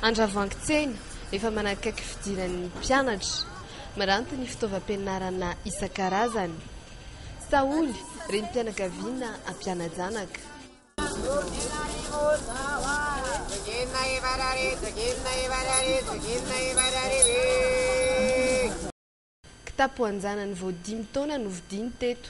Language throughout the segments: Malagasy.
Andravoahangy Tsena, efa manakaiky fidiran'ny mpianatra. Miranty ny fitaovam-pianarana isan-karazany. Saholy, renim-pianakaviana mpiana-janaka. Kitapo an-janany vao dimy taona no vidiany teto.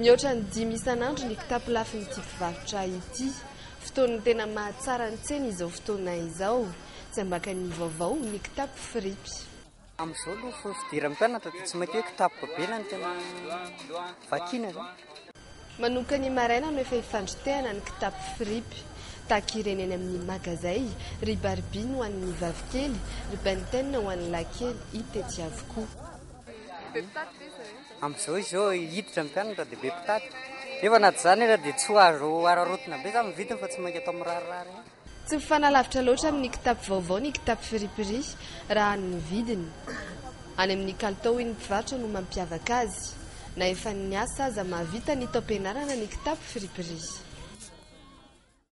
Mihoatra ny dimy isan'andro ny kitapo lafin'ity mpivarotra ity. Fotoan'ny tena mahatsara ny tsena izao fotoana izao. Tsy ambakan'ny vaovao ny kitapo fripy. Amin'izao aloha efa fidiran'ny mpianatra dia tsy maintsy hoe kitapo babena no tena vakiana izany. Manomboka ny maraina no efa hifandrotehana ny kitapo fripy. Tahaka ireny eny amin'ny magazay, ry Barbie ho an'ny vavikely, ry Ben Ten ho an'ny lahikely hita etsy avokoa. Amin'izao izy izao hiditra ny mpianatra dia be mpitady. Nefa na tsy izany aza dia tsy ho azo hararaotina be izany ny vidiny fa tsy mainka atao mirarirary ihany. Tsy mifanalavitra loatra amin'ny kitapo vaovao ny kitapo friperie raha amin'ny vidiny. Any amin'ny kalitao hoy ny mpivarotra no mampiavaka azy. Na efa niasa aza mahavita ny taom-pianarana ny kitapo friperie.